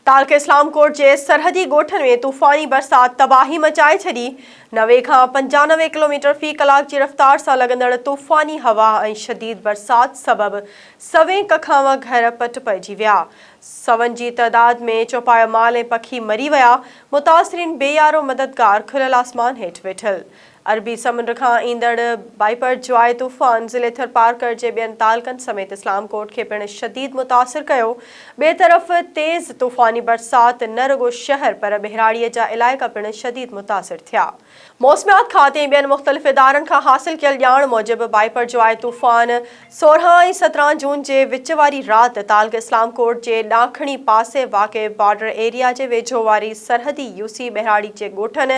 تعلقي اسلام ڪوٽ جي سرحدي ڳوٺن ۾ طوفاني برسات تباهي مچائي ڇڏي، نوي کان پنجانوي ڪلوميٽر في ڪلاڪ جي رفتار سان لڳندڙ طوفاني هوا ۽ شديد برسات سبب سوين ڪکانوء گهر پٽ پئجي ويا، سون جي تعداد ۾ چوپايو مال ۽ پکي مري ويا، متاثرين بي يارو مددگار کليل آسمان هيٺ ويٺل عربي سمنڊ کان ايندڙ بائيپر جواء طوفان ضلعي ٿرپارڪر جي ٻين تعلقن سميت اسلام ڪوٽ کي پڻ شديد متاثر ڪيو، ٻئي طرف تيز طوفاني برسات نه رڳو شهر پر ٻهراڙيء جا علائقا پڻ شديد متاثر ٿيا. موسميات کاتي ۽ ٻين مختلف ادارن کان حاصل ڪيل ڄاڻ موجب بائيپر جواء طوفان سورهن ۽ سترهن جون جي وچ واري رات تعلقي اسلام ڪوٽ جي ڏاکڻي پاسي واقع بارڊر ايريا جي ويجهو واري سرحدي يوسي ٻهراڙي جي ڳوٺن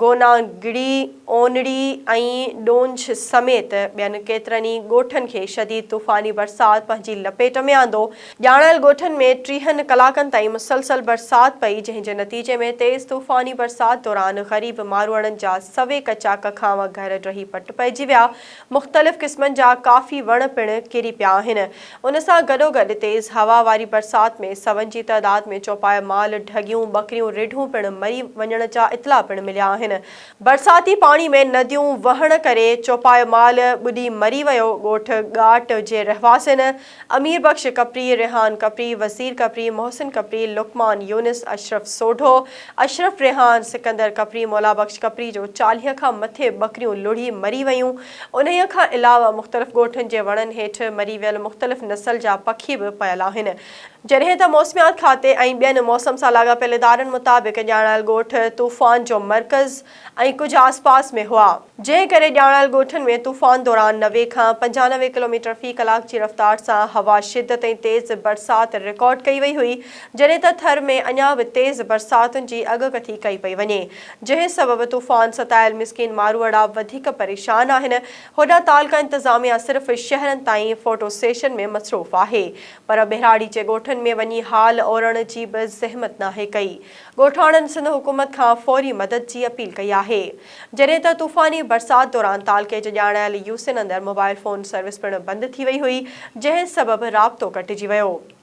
گوناگڙي، اونڙي ۽ ڏونج سميت ٻين ڪيترن ئي ڳوٺن کي شديد طوفاني برسات پنهنجي لپيٽ ۾ آندو. ڄاڻايل ڳوٺن ۾ ٽيهن ڪلاڪن تائين مسلسل برسات پئي، جنهن جي نتيجي ۾ تيز طوفاني برسات دوران غريب ماروئڙن جا سوي ڪچا ڪکانء گهر ڊهي پٽ پئجي ويا، مختلف قسمن جا ڪافي وڻ پڻ ڪري پيا آهن. ان سان گڏوگڏ تيز هوا واري برسات ۾ سون جي تعداد ۾ چوپايا مال، ڍڳيون، ٻڪريون، ريڍون پڻ مري وڃڻ جا اطلاع پڻ مليا آهن. برساتي پاڻي ۾ نديون وهڻ ڪري چوپايو مال ٻڏي مري ويو، ڳوٺ ڳاٽ جي رهواسين، امير بخش ڪپري، ريحان ڪپري، وزير ڪپري، محسن ڪپري، لقمان يونس، اشرف سوڍو، اشرف ريحان، سڪندر ڪپري، مولا بخش ڪپري جو چاليهه کان مٿي ٻڪريون لڙهي مري ويون. انهيء کان علاوه مختلف ڳوٺن جي وڻن هيٺ مري ويل مختلف نسل جا پکي به پيل آهن. جڏهن ته موسميات کاتي ۽ ٻين موسم سان لاڳاپيل ادارن مطابق ڄاڻايل ڳوٺ طوفان جو مرڪز، ۽ ڪجهه آس پاس ۾ هئا، جنهن ڪري ڄاڻايل ڳوٺن ۾ طوفان دوران نوي کان پنجانوي ڪلوميٽر في ڪلاڪ جي رفتار سان هوا، شدت ۽ تيز برسات رڪارڊ ڪئي وئي هئي، جڏهن ته ٿر ۾ اڃا به تيز برساتن جي اڳڪٿي ڪئي پئي وڃي، جنهن سبب طوفان ستايل مسڪين ماروئڙا وڌيڪ پريشان آهن، هوڏانهن تعلقه انتظاميا صرف شهرن تائين فوٽو سيشن ۾ مصروف آهي، پر ٻهراڙيچي ڳوٺن ۾ وڃي حال اورڻ جي به زحمت ناهي ڪئي. ڳوٺاڻن سنڌ حڪومت کان فوري مدد جي اپيل ڪئي آهي. جڏهن ته طوفاني برسات دوران تعلقي جي ڄاڻايل يوسين اندر موبائيل فون سروس پڻ بند ٿي وئي هئي، جنهن سبب رابطو ڪٽجي ويو.